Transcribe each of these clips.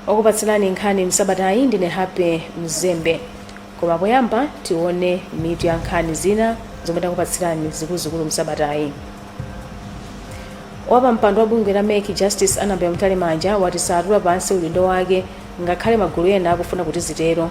okupatsilani nkhani msabatayi ndine happy mzembe koma poyamba tione mitu ya nkhani zina zomwe takupatsilani zikuluzikulu msabatayi wapampando wa bungwe la mec justice annabel mtalimanja wati satula pansi udindo wake ngakhale magulu ena akufuna kuti zitero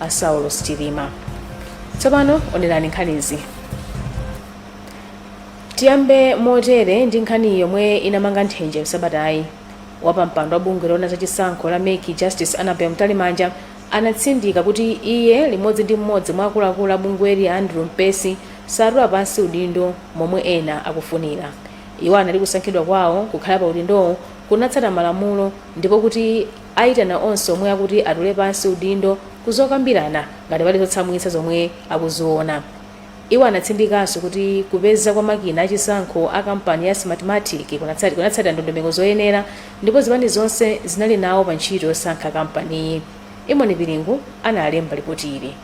a saulos chilima tsopano onerani nkhanizi tiyambe motere ndi nkhani yomwe inamanga nthenje msabatayi wapampando wa bungwe loona za chisankho la mec justice annabel mtalimanja anatsindika kuti iye limodzi ndi mmodzi mwa akuluakulu a bungweli a andrew mpesi satula pansi udindo momwe ena akufunira iwo anati kusankhidwa kwawo kukhala pa udindowo kunatsata malamulo ndipo kuti Ayitana onse omwe akuti atule pansi udindo ku zokambirana ngati pali zotsamwitsa zomwe akuziona. Iwo anatsindikanso kuti kupezeka kwa makina a chisankho a kampani ya Smartmatic kunatsatira ndondomeko zoyenera ndipo zipani zonse zinali nawo pa ntchito yosankha kampaniyi. Imoni Pilingu analemba lipoti ili.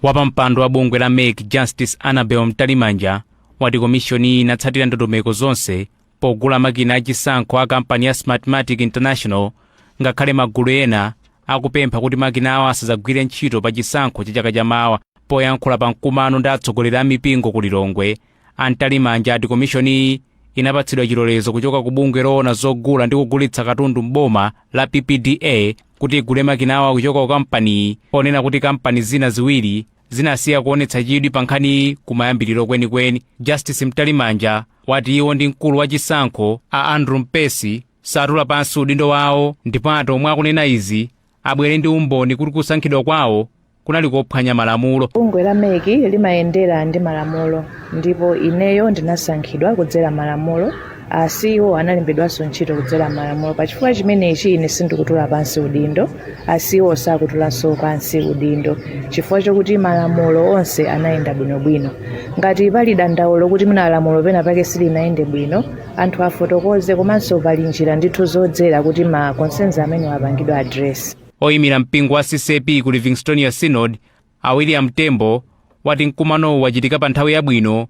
Wapampando wa bungwe la mec Justice Annabel Mtalimanja wati komishoniyi inatsatira ndondomeko zonse pogula makina achisankho a kampani ya smartmatic international ngakhale magulu ena akupempha kuti makinawa asadzagwire ntchito pa chisankho cha chaka chamawa poyankhula pa mkumano ndi atsogoleri a mipingo ku lilongwe a mtalimanja ati komishoniyi inapatsidwa chilolezo kuchoka ku bungwe loona zogula ndi kugulitsa katundu m'boma la ppda kuti igule makinawa kuchoka ku kampaniyi ponena kuti kampani zina ziwiri zinasiya kuonetsa chidwi pa nkhaniyi kumayambiriro kwenikweni justice mtalimanja wati iwo ndi mkulu wa chisankho a andrew mpesi satula pansi udindo wawo ndipo ati omwe akunena izi abwere ndi umboni kuti kusankhidwa kwawo kunali kophwanya malamulo bungwe la mec limayendera ndi malamulo ndipo ineyo ndinasankhidwa kudzera malamulo a ceo analembedwanso ntchito kudzera m'malamulo pa chifukwa chimenechi ine sindikutula pansi udindo a ceo sakutulanso pansi udindo chifukwa chokuti malamulo onse anayenda bwinobwino ngati pali dandaulo kuti mwina lamulo pena pake silinayende bwino anthu afotokoze komanso pali njira ndithu zodzera kuti ma concerns amenewa apangidwe address oyimira mpingo wa ccap ku livingstonia synod a william tembo wati mkumanowu wachitika pa nthawi yabwino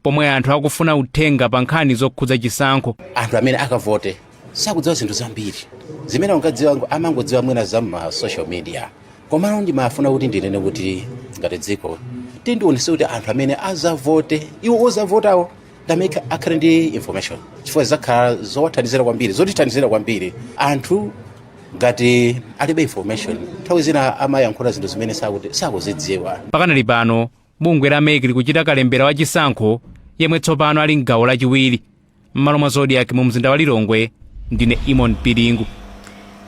pomwe anthu akufuna uthenga pa nkhani zokhudza chisankho anthu amene akavote sakudziwa zinthu zambiri zimene ungadziwa amangodziwa mwina za ma social media komano ndimafuna kuti ndinene kuti ngati dziko tiwonesetse kuti anthu amene azavote iwo ozavotawo ndamene akhale ndi information chifukwa zakhala zowathandizira kwambiri zotithandizira kwambiri anthu ngati alibe information nthawi zina amayankhula zinthu zimene sakuti- sakuzidziwa pakadali pano Bungwe la mec likuchita kalembera wa chisankho yemwe tsopano ali mgawo lachiwiri m'malo mwa zodiak mu mzinda wa lilongwe ndine imon pilingu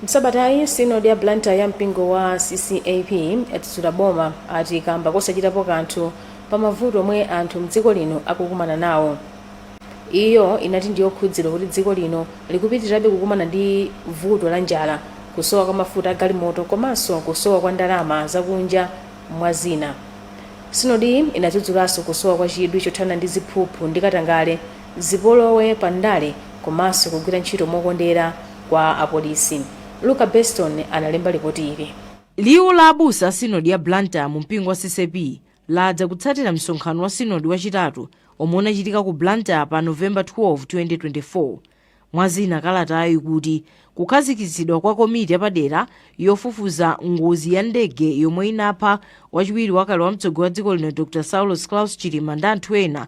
msabatayi sinodi ya blantyre ya mpingo wa ccap yadzudzula boma ati kamba kosachitapo kanthu pa mavuto omwe anthu mdziko lino akukumana nawo iyo inati ndiyokhudzidwa kuti dziko lino likupitirirabe kukumana ndi vuto la njala kusowa kwa mafuta agalimoto komanso kusowa kwa ndalama zakunja Mwa zina, sinodiyi inadzudzulanso kusowa kwa chidwi chothana ndi ziphuphu ndi katangale, zipolowe pa ndale komanso kugwira ntchito mokondera kwa apolisi. Luka Beston analemba lipoti ili. Liwu la abusa a Sinodi ya Blantyre mu mpingo wa CCAP ladza kutsatira msonkhano wa Sinodi wachitatu omwe unachitika ku Blantyre pa November 12, 2024. Mwa zina kalatayo ikuti kukhazikitsidwa kwa komiti yapadera yofufuza ngozi ya ndege yomwe inapha wachiwiri wakale wa mtsogoleri wa dziko lino Dr Saulos Klaus Chilima ndi anthu ena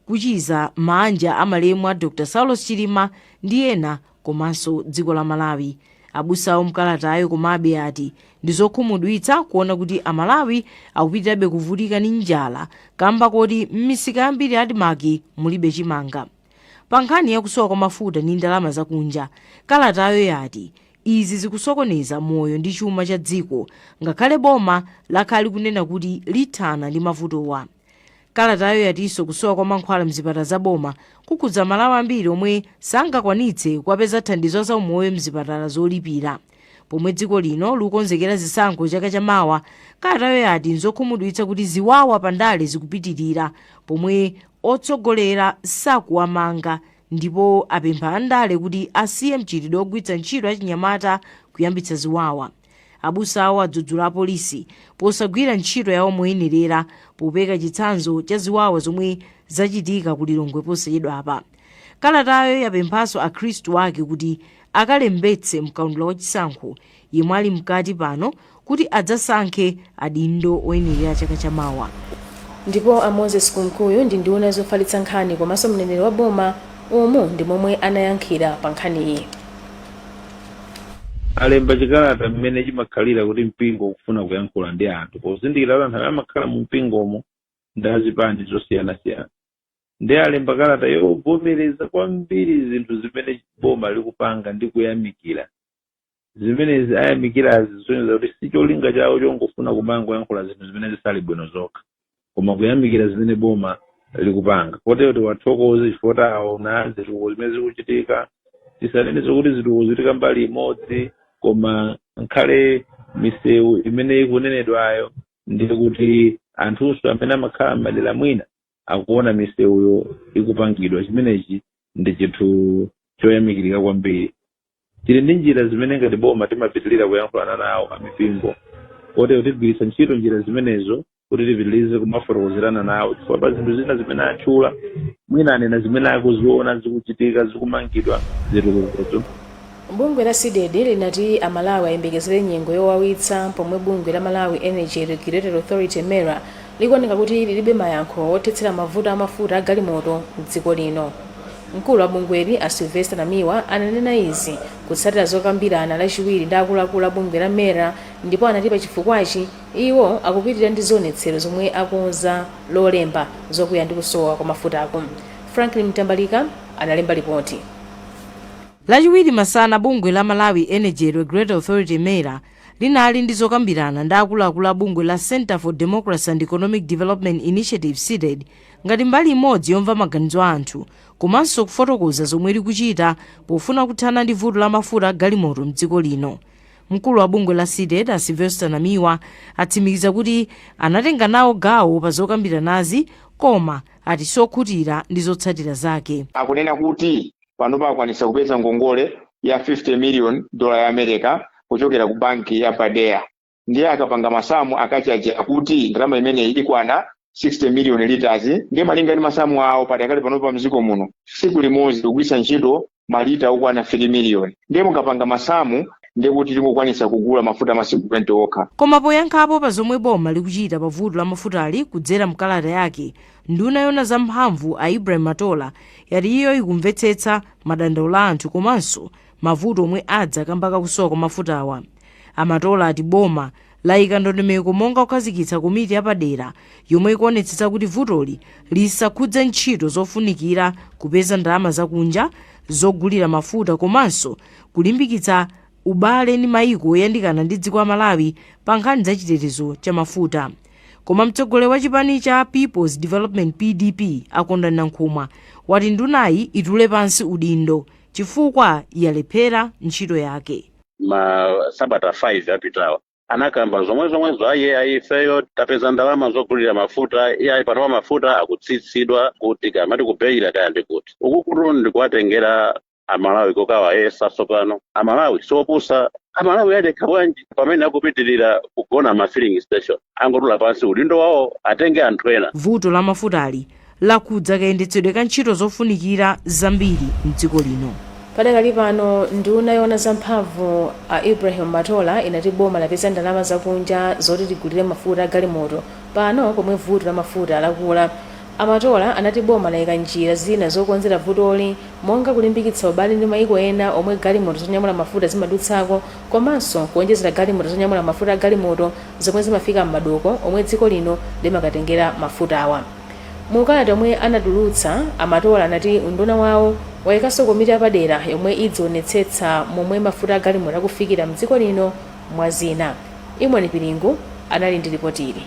kuchiza maanja a malemu a Dr Saulos Chilima ndi ena komanso dziko la Malawi. Abusawo mkalatayo komabe ati ndi zokhumudwitsa kuona kuti Amalawi akupitirabe kuvutika ndi njala kamba koti m'misika yambiri ya Admarc mulibe chimanga. Pa nkhani ya kusowa kwa mafuta ndi ndalama zakunja, kalatayo yati izi zikusokoneza moyo ndi chuma cha dziko ngakhale boma lakhala likunena kuti lithana ndi mavutowa. Kalatayo yatinso kusowa kwa mankhwala m'zipatala za boma kukhudza Amalawi ambiri omwe sangakwanitse kuwapeza thandizo la zaumoyo m'zipatala zolipira. Pomwe dziko lino lukonzekera zisankho chaka cha mawa, kalatayo yati nzokhumudwitsa kuti ziwawa pa ndale zikupitilira pomwe otsogolera sakuwamanga ndipo apempha andale kuti asiye mchitidwe ogwiritsa ntchito achinyamata kuyambitsa ziwawa. Abusawo adzudzula apolisi posagwira ntchito yawo moyenerera popereka chitsanzo cha ziwawa zomwe zachitika ku Lilongwe posachedwapa. Kalatayo yapemphanso akhristu ake kuti akalembetse mkaundula wa chisankho yemwe ali mkati pano kuti adzasankhe adindo oyenerera chaka cha mawa. Ndipo a Moses Kunkuyu ndi nduna yofalitsa nkhani komanso mneneri wa boma umu ndi momwe anayankhira pa nkhaniyi. alemba chikalata mmene chimakhalira kuti mpingo ukufuna kuyankhula ndi anthu pozindikira kuti anthu amene amakhala mu mpingomo ndi azipani zosiyanasiyana ndiye alemba kalata yovomereza kwambiri zinthu zimene boma likupanga ndi kuyamikira zimenezi ayamikira zisonyeza kuti si cholinga chawo chongofuna kumangoyankhula zinthu zimene zisali bwino zokha koma kuyamikira zimene boma likupanga kotero tiwathokoze chifukwa aona zitukuko zimene zikuchitika tisanene zokuti zitukuko zikuchitika mbali imodzi koma nkhale misewu imene ikunenedwayo ndiye kuti anthunso amene amakhala m'madera mwina akuona misewuyo ikupangidwa chimenechi ndi chinthu choyamikirika kwambiri tili ndi njira zimene ngati boma timapitirira kuyankhulana nawo amipingo kotero tigwiritsa ntchito njira zimenezo kuti tipitirize kumafotokozerana nawo chifukwa pa zinthu zina zimene atchula mwina anena zimene akuziona zikuchitika zikumangidwa zitukukozo Bungwe la Cdedi linati a Malawi ayembekezere nyengo yowawitsa pomwe bungwe la Malawi Energy Regulatory Authority, MERA, likuoneka kuti lilibe mayankho othetsera mavuto a mafuta a galimoto m'dziko lino. Mkulu wa bungweli, a Sylvester Namiwa, ananena izi kutsatira zokambirana lachiwiri ndi akuluakulu a bungwe la MERA ndipo anati pachifukwachi, iwo akupitilira ndi zionetsero zomwe akonza lolemba zokwiya ndi kusowa kwa mafutaku. Franklin Mtambalika analemba lipoti. Lachiwiri masana bungwe la Malawi Energy Regulatory Authority, Mera, linali ndi zokambirana ndi akuluakulu a bungwe la Centre for Democracy and Economic Development Initiative, Cdedi, ngati mbali imodzi yomva maganizo a anthu komanso kufotokoza zomwe likuchita pofuna kuthana ndi vuto la mafuta a galimoto m'dziko lino. Mkulu wa bungwe la Cdedi, a Sylvester Namiwa, atsimikiza kuti anatenga nawo gawo pa zokambiranazi koma ati sokhutira ndi zotsatira zake. Akunena kuti panopa akwanitsa kupeza ngongole ya 50 million dola ya america kuchokera ku banki ya badea ndiye akapanga masamu akachaje akuti ndalama imeneyi ikwana 60 million liters ndiye malinga ndi masamu awo padakali panopa mdziko muno tsiku limodzi likugwiritsa ntchito malita okwana 3 million ndiye mukapanga masamu ndiye kuti tingokwanitsa kugula mafuta a masiku 20 okha Koma poyankhapo pa zomwe boma likuchita pa vuto la mafutali kudzera mkalata yake, Nduna yoona za mphamvu a Ibrahim Matola yati iyo ikumvetsetsa madandaulo a anthu komanso mavuto omwe adza kamba ka kusowa kwa mafutawa. A Matola ati boma layika ndondomeko monga kukhazikitsa komiti ya padera yomwe ikuonetsetsa kuti vutoli lisakhudze ntchito zofunikira kupeza ndalama zakunja zogulira mafuta komanso kulimbikitsa ubale ndi maiko oyandikana ndi dziko la Malawi pa nkhani za chitetezo cha mafuta. Koma mtsogoleri wa chipani cha Peoples Development PDP a Kondwani Nankhumwa wati ndunayi itule pansi udindo chifukwa yalephera ntchito yake. ma sabata 5 apitawa anakamba zomwezomwezo ayi ayi ifeyo tapeza ndalama zogulira mafuta iye ayi panopa mafuta akutsitsidwa kuti kaya mati ku Beira kaya ndi kuti uku kutu ndi kuwatengera amalawi kokawayesa tsopano amalawi siopusa amalawi adekha bwanji pamene akupitirira kugona ma filling station angotula pansi udindo wawo atenge anthu ena vuto la mafutali lakhudza kayendetsedwe ka ntchito zofunikira zambiri m'dziko lino. Padakali pano nduna yoona za mphamvu a Ibrahim Matola inati boma lapeza ndalama zakunja zoti ligulire mafuta a galimoto pano pomwe vuto la mafuta lakula. A Matola anati boma layika njira zina zokonzera vutoli monga kulimbikitsa ubale ndi mayiko ena omwe galimoto zonyamula mafuta zimadutsako komanso kuonjezera galimoto zonyamula mafuta a galimoto zomwe zimafika m'madoko omwe dziko lino limakatengera mafutawa. Mu kalata yomwe anatulutsa, a Matola anati unduna wawo wayikanso komiti yapadera yomwe idzionetsetsa momwe mafuta a galimoto akufikira m'dziko lino mwa zina. Imoni Pilingu anali ndi lipotili.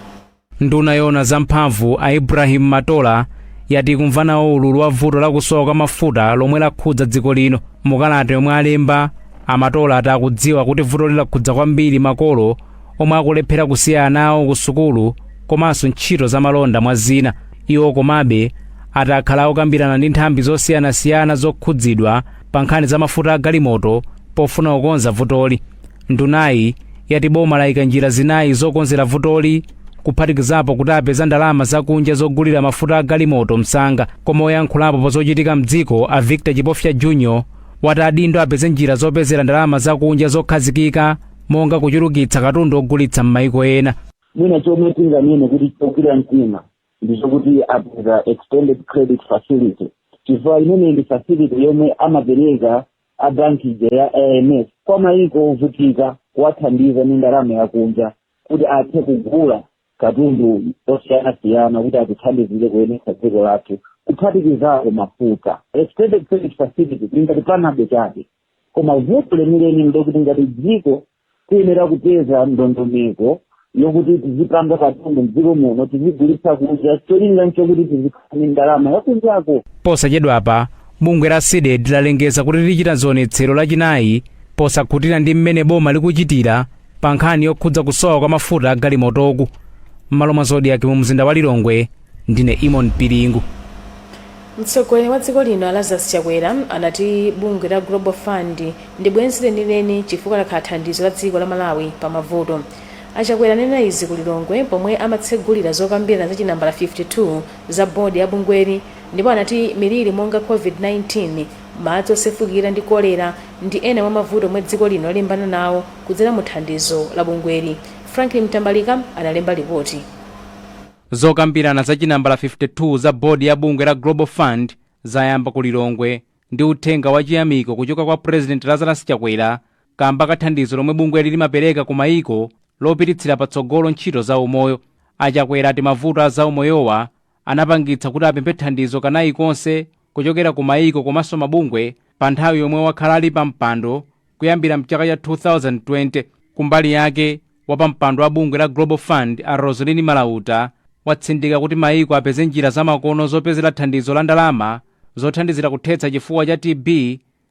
Nduna yoona za mphamvu, a Ibrahim Matola, yati ikumva nawo ululu wa vuto la kusowa kwa mafuta lomwe lakhudza dziko lino. Mu kalata yomwe alemba, a Matola ati akudziwa kuti vutoli lakhudza kwambiri makolo omwe akulephera kusiya ana awo ku sukulu komanso ntchito zamalonda mwa zina iwo komabe ati akhala akukambirana ndi nthambi zosiyanasiyana zokhudzidwa pa nkhani za mafuta a galimoto pofuna kukonza vutoli ndunayi yati boma layika njira zinayi zokonzera vutoli kuphatikizapo kuti apeza ndalama zakunja zogulira mafuta a galimoto msanga koma oyankhulapo pa zochitika mdziko a victor chipofya junior wati adindo apeze njira zopezera ndalama zakunja zokhazikika monga kuchulukitsa katundu ogulitsa m'maiko ena mwina chomwe tinganene kuti chogwira mtima ndi chokuti apeza extended credit facility chifukwa imeneyi ndi facility yomwe amapereka a banki ija ya IMF kwa maiko ovutika kuwathandiza ndi ndalama yakunja kuti athe kugula katundu osiyanasiyana kuti atithandizire kuyendetsa dziko lathu kuphatikizapo mafuta extended credit facility tingati panado chabe koma vuto lenileni ndekuti ngati dziko tiyenera kupeza ndondomeko yokuti tizipanga katundu mdziko muno tizigulitsa kunja cholinga nchokuti tizikhala ndi ndalama yakunjako posachedwapa bungwe la cdedi lalengeza kuti lichita zionetsero lachinayi posakhutira ndi mmene boma likuchitira pa nkhani yokhudza kusowa kwa mafuta a galimotoku m'malo mwa zodiac mu mzinda wa lilongwe ndine eamon piringu mtsogoleri wa dziko lino lazarus chakwera anati bungwe la global fund ndi bwenzi lenileni chifukwa lakhala thandizo la dziko la malawi pa mavuto achakwera anena izi ku lilongwe pomwe amatsegulira zokambirana za chinambala 52 za bodi ya bungweli ndipo anati miliri monga covid-19 madzi osefukira ndi kolera ndi ena mwa mavuto omwe dziko lino lalimbana nawo kudzera mu thandizo la bungweli. Franklin Mtambalika analemba lipoti. Zokambirana za chinambala 52 za board ya bungwe la Global Fund zayamba ku Lilongwe ndi uthenga wa chiyamiko kuchoka kwa President Lazarus Chakwera kamba ka thandizo lomwe bungweli limapereka ku mayiko lopititsira patsogolo ntchito za umoyo. A Chakwera ati mavuto a zaumoyowa anapangitsa kuti apemphe thandizo kanayi konse kuchokera ku maiko komanso mabungwe pa nthawi yomwe wakhala ali pa mpando kuyambira mchaka cha 2020. Kumbali yake, wapampando wa bungwe la Global Fund a Roslyn Morauta watsindika kuti maiko apeze njira zamakono zopezera thandizo la ndalama zothandizira kuthetsa chifuwa cha TB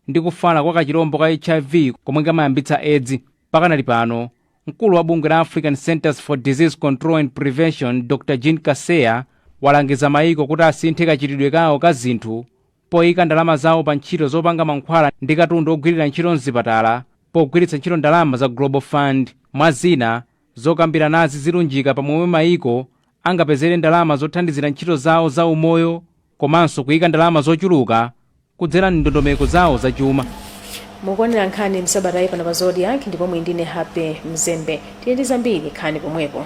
ndi kufala kwa kachilombo ka HIV komwe kamayambitsa Edzi. Pakanali pano, Mkulu wa bungwe la Africa Centres for Disease Control and Prevention, Dr Jean Kaseya, walangiza mayiko kuti asinthe kachitidwe kawo ka zinthu poika ndalama zawo pa ntchito zopanga mankhwala ndi katundu ogwirira ntchito m'zipatala pogwiritsa ntchito ndalama za Global Fund. Mwa zina, zokambiranazi zilunjika pa momwe mayiko angapezere ndalama zothandizira ntchito zawo za umoyo, komanso kuika ndalama zochuluka kudzera m'ndondomeko zawo zachuma. mukuonera nkhani msabatayi pano pa zodiac ndipo muli ndine happy mzembe tili ndi zambiri khalani pomwepo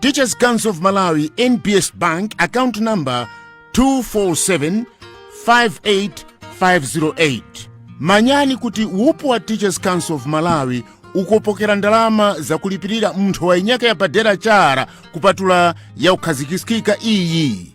Teachers Council of Malawi NBS Bank account number 24758508 manyani kuti wupu wa Teachers Council of Malawi ukupokera ndalama zakulipirira nthowa yinyake yapadera chara kupatula yakukhazikiskika iyi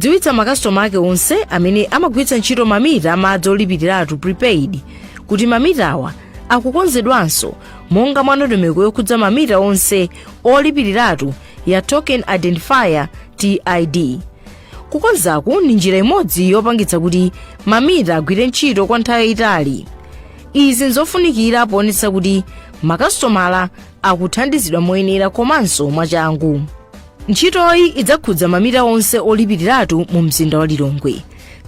dziwitsa makasitoma ake onse amene amagwiritsa ntchito mamita amadzi olipiriratu prepaid kuti mamitawa akukonzedwanso monga mwa ndondomeko yokhudza mamita onse olipiriratu ya token identifier tid kukonzaku ndi njira imodzi yopangitsa kuti mamita agwire ntchito kwa nthawi yayitali izi nzofunikira poonetsa kuti makasitomala akuthandizidwa moyenera komanso mwachangu ntchitoyi idzakhudza mamita onse olipiriratu mu mzinda wa lilongwe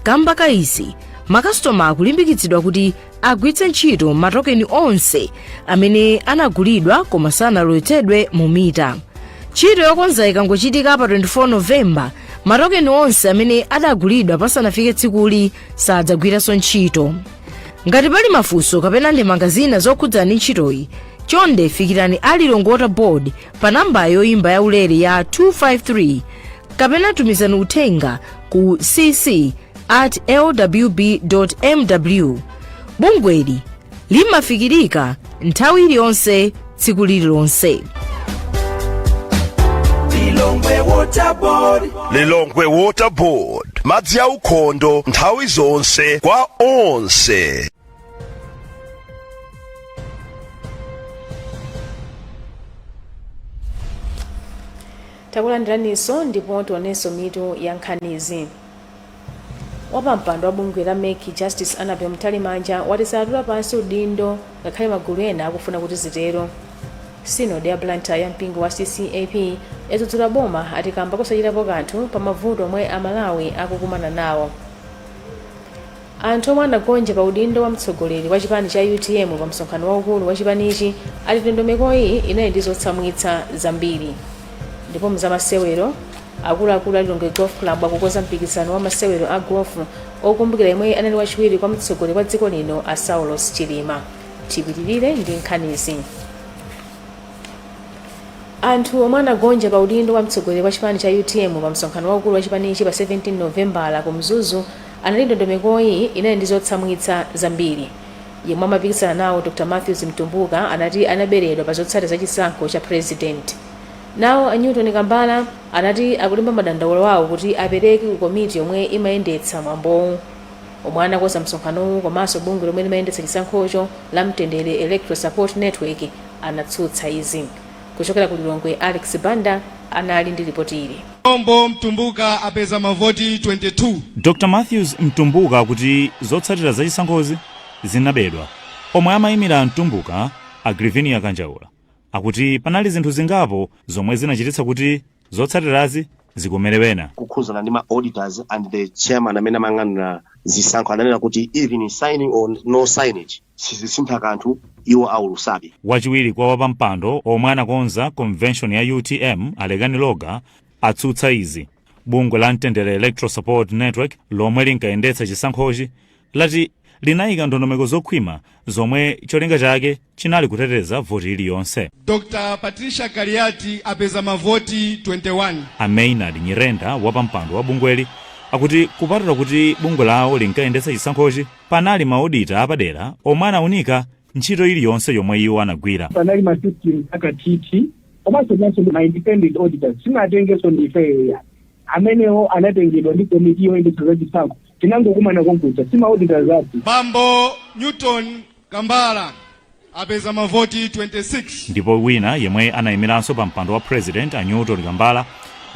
kamba ka izi makasitoma akulimbikitsidwa kuti agwiritse ntchito matokeni onse amene anagulidwa koma sanalowetsedwe mu mita ntchito yokonza ikangochitika pa 24 novemba matokeni onse amene adagulidwa pasanafike tsikuli sadzagwiranso ntchito ngati pali mafunso kapena ndemanga zina zokhudza ndi ntchitoyi chonde fikirani a lilongwe water board pa namba yoimba yaulere ya 253 kapena tumizani uthenga ku cc at lwb mw bungweli limafikirika nthawi iliyonse tsiku lililonse lilongwe water board madzi aukhondo nthawi zonse kwa onse takulandiraniso ndipo tionenso mitu ya nkhanizi wapampando wa bungwe la mec justice annabel mtalimanja wati saatula pansi udindo ngakhale magulu ena akufuna kuti zitero sinodi ya blantyre ya mpingo wa ccap yadzudzula boma ati kamba kusachitapo kanthu pa mavuto omwe amalawi akukumana nawo Anthu omwe anagonja pa udindo wa mtsogoleri wa chipani cha utm pa msonkhano waukulu wa chipanichi ati ndondomekoyi inali ndi zotsamwitsa zambiri. Ndipo mu zamasewero, akuluakulu a Lilongwe Golf Club akukonza mpikisano wa masewero a golf okumbukira yemwe anali wachiwiri kwa mtsogoleri wa dziko lino a Saulos Chilima. Tipitirire ndi nkhanizi. Anthu omwe anagonja pa udindo wa mtsogoleri wa chipani cha utm pa msonkhano waukulu wa chipanichi pa 17 Novembala ku Mzuzu Anati ndondomekoyi inali ndi zotsamwitsa zambiri. Yemwe amapikisana nawo Dr Matthews Mtumbuka anati anaberedwa pa zotsatira za chisankho cha President. Nawo a Newton Kambala anati akulemba madandaulo awo kuti apereke ku komiti yomwe imayendetsa mwambowu omwe anakonza msonkhanowu komanso bungwe lomwe limayendetsa chisankhocho la Mtendere Electoral Support Network anatsutsa izi. Kuchokera ku Lilongwe, Alex Banda anali ndi lipoti ili. Ombo Mtumbuka apeza mavoti 22. Dr Matthews Mtumbuka akuti zotsatira za chisankhozi zinabedwa. Omwe amayimira a Mtumbuka, a Grivinia Kanjaula, akuti panali zinthu zingapo zomwe zinachititsa kuti Zotsatirazi zikomere ena. kukhuzana ndi ma auditors and the chairman amene amayang'anira zisankho ananena kuti even signing or no signing sizisintha kanthu iwo aulutsabe. Wachiwiri kwa wapampando omwe anakonza convention ya utm a Lekani Loga atsutsa izi. Bungwe la Mtendere Electoral Support Network lomwe linkayendetsa chisankhochi lati linayika ndondomeko zokhwima zomwe cholinga chake chinali kuteteza voti iliyonse. Dr. Patricia Kaliati apeza mavoti 21. A Maynard Nyirenda, wapampando wa bungweli, akuti kupatula kuti bungwe lawo linkayendetsa chisankhochi, panali maodita apadera omwe anaunika ntchito iliyonse yomwe iwo anagwira. Panali ma system akathithi komanso naso ma independent auditors sinatengenso ndi ifeyo ya amenewo anatengedwa ndi komiti yoyendetsa za chisankho Tinangokumana konkuja. Si ma auditors athu. Bambo Newton Kambala apeza mavoti 26. ndipo wina yemwe anayimiranso pa mpando wa president a newton kambala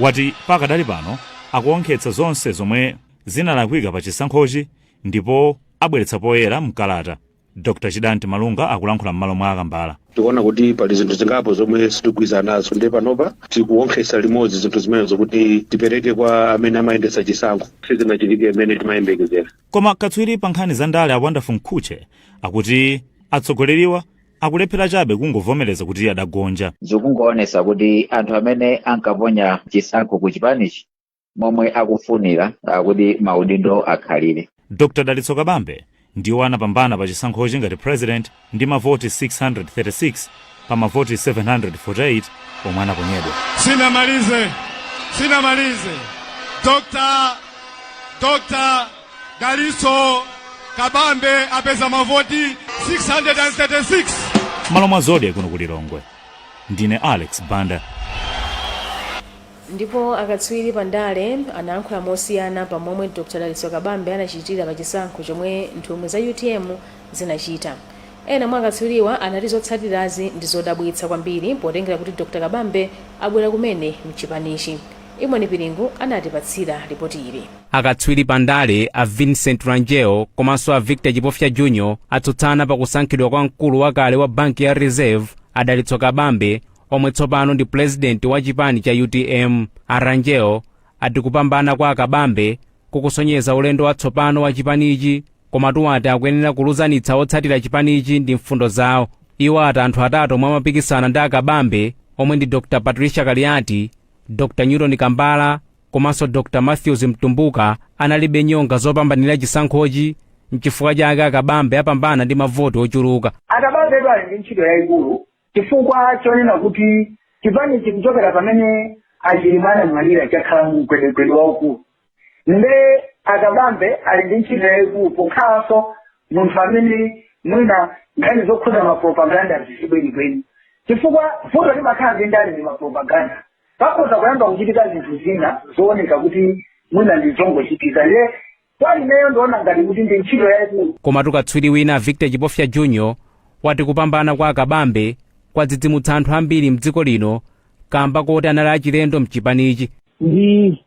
wati pakadali pano akuwonkhetsa zonse zomwe zinalakwika pa chisankhochi ndipo abweretsa poyera mkalata dr chidanti malunga akulankhula m'malo mwa akambala tikuona kuti pali zinthu zingapo zomwe sitigwirizana nazo ndiye panopa tikuwonkhesa limodzi zinthu zimenezo kuti tipereke kwa amene amayendetsa chisankho sizinachitike imene timayembekezera koma katswiri pa nkhani za ndale a wonderful mkhutche akuti atsogoleriwa akulephera chabe kungovomereza kuti adagonja zikungoonesa kuti anthu amene ankaponya chisankho ku chipanichi momwe akufunira ah, kuti maudindo akhalire dr dalitso kabambe ndiwo anapambana pa chisankhochi ngati president ndi mavoti 636 pa mavoti 748 omwe anaponyedwa Sinamalize, sinamalize. Dr. Dr. Dalitso Kabambe apeza mavoti 636. m'malo mwa zodiak kuno ku lilongwe ndine alex banda Ndipo akatswiri pa ndale anayankhula mosiyana pa momwe Dr Dalitso Kabambe anachitira pa chisankho chomwe nthumwi za utm zinachita. Ena mwa akatswiriwa anati zotsatirazi ndi zodabwitsa kwambiri potengera kuti Dr Kabambe abwera kumene mchipanichi. Eamon Piringu anatipatsira lipoti ili. Akatswiri pa ndale a Vincent Rangel komanso a Victor Chipofya Jr atsutsana pa kusankhidwa kwa mkulu wakale wa banki ya Reserve a Dalitso Kabambe omwe tsopano ndi pulezidenti wa chipani cha utm a rangel ati kupambana kwa akabambe kukusonyeza ulendo watsopano wa chipanichi komatu ati akuyenera kuluzanitsa otsatira chipanichi ndi mfundo zawo iwo ati anthu atatu omwe amapikisana ndi akabambe omwe ndi dr patricia kaliati dr newton kambala komanso dr matthews mtumbuka analibe nyonga zopambanira chisankhochi n'chifukwa chake akabambe apambana ndi mavoti ochuluka akabambe ali ndi ntchito yayikulu chifukwa chonena kuti chipanichi kuchokera pamene achilima anamwalira chakhala mu mgwedegwede waukulu nde akabambe ali ndi ntchito yayikulu pokhalanso munthu amene mwina nkhani zokhudza mapropaganda si zibwenikweni chifukwa vuto limakhala za ndale ndi mapropaganda pakhoza kuyamba kuchitika zinthu zina zooneka kuti mwina ndi zongochitika nde Kwa ineyo ndiona ngati kuti ndi ntchito yaikulu. Komatu katswiri wina Victor Chipofya Junior wati kupambana kwa a Kabambe kwadzidzimutsa anthu ambiri mdziko lino kamba koti anali achilendo mchipanichi. Ndi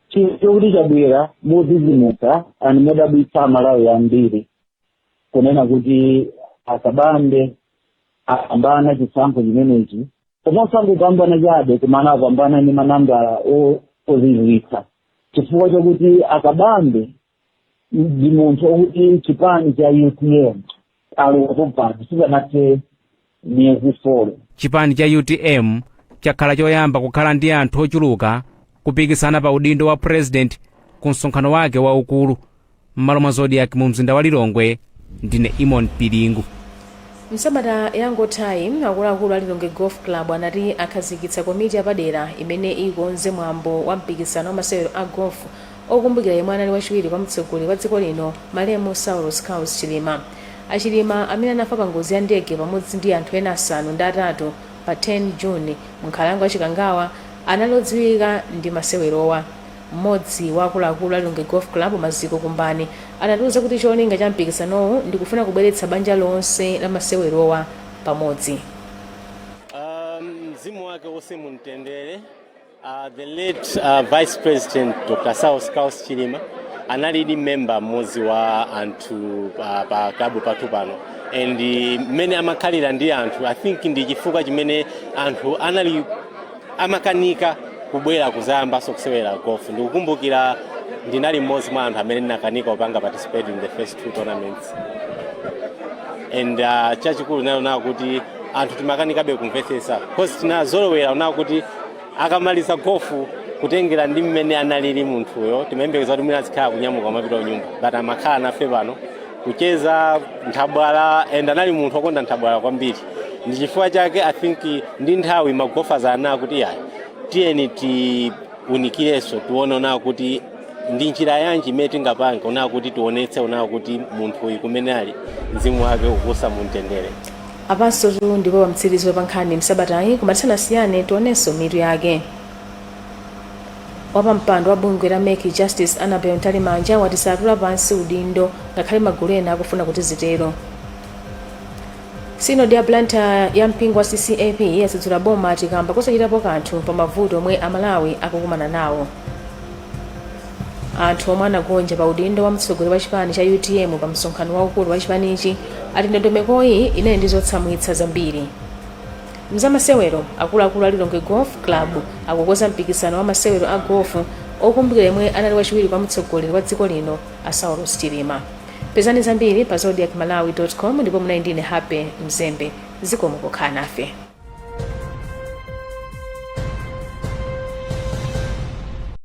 chinthu chokuti chabwera modzidzimutsa and modabwitsa amalawi ambiri kunena kuti a Kabambe apambana chisankho chimenechi. osangopambana chabe koma apambana ndi manambala o- ozizwitsa chifukwa chakuti akabambe ndi munthu okuti chipani cha utm alowapo pano sipanathe miyezi folo chipani cha utm chakhala choyamba kukhala ndi anthu ochuluka kupikisana pa udindo wa president ku msonkhano wake waukulu m'malo mwa zodiak mu mzinda wa lilongwe ndine eamon piringu msabata yangothayi akuluakulu a lilongwe golf club anati akhazikitsa komiti yapadera imene ikonze mwambo wa mpikisano wa masewero a golf okumbukira yemwe anali wachiwiri kwa mtsogoleri wa dziko lino malemu saulos klaus chilima achilima amene anafa pa ngozi ya ndege pamodzi ndi anthu ena asanu ndi atatu pa 10 june mu nkhalango ya chikangawa anali odziwika ndi masewerowa Mmodzi wa akuluakulu a Lilongwe Golf Club, Maziko Kumbani, anatiuza kuti cholinga cha mpikisanowu ndi kufuna kubweretsa banja lonse la masewerowa pamodzi. Uh, mzimu wake uwuse mumtendere. Uh, the late uh, Vice President Dr. Saulos Klaus Chilima anali member mmodzi wa anthu pa, pa klabu pathu pano and mmene amakhalira ndi anthu I think ndi chifukwa chimene anthu anali amakanika kubwera kuzayambanso kusewera golf ndikukumbukira ndinali mmodzi mwa anthu amene ndinakanika kupanga participate in the first two tournaments and uh, chachikulu nacho unawo kuti anthu timakanikabe kumvetsetsa kosi tinazolowera unawo kuti akamaliza gofu kutengera ndi mmene analili munthuyo timayembekeza kuti mwina azikhala kunyamuka kumapita kunyumba but amakhala nafe pano kucheza nthabwala and anali munthu wokonda nthabwala kwambiri ndi chifukwa chake i think ndi nthawi magofaza anaa kuti yayi tiyeni tiunikirenso tione unawo kuti ndi njira yanji imene tingapange unawo kuti tionetse unawo kuti munthu uyu kumene ali mzimu wake ukuusa mumtendere apansotu ndipo pamtsiriziro pa nkhani msabatayi koma tisanasiyane tionenso mitu yake Wapampando wa bungwe la mec Justice Annabel Mtalimanja wati satula pansi udindo ngakhale magulu ena akufuna kuti zitero. Sinodi ya Blantyre ya mpingo wa CCAP yadzudzula boma ati kamba kosachitapo kanthu pa mavuto omwe Amalawi akukumana nawo. Anthu omwe anagonja pa udindo wa mtsogoleri wa chipani cha utm pa msonkhano waukulu wa chipanichi ati ndondomekoyi inali ndi zotsamwitsa zambiri. Mzamasewero, Akuluakulu a Lilongwe Golf Club akukonza mpikisano wa masewero a golf okumbukira yemwe anali wachiwiri kwa mtsogoleri wa dziko lino a Saulos Chilima. Pezani zambiri pa zodiacmalawi com ndipo munali ndine Happy Mzembe. Zikomo pokhala nafe.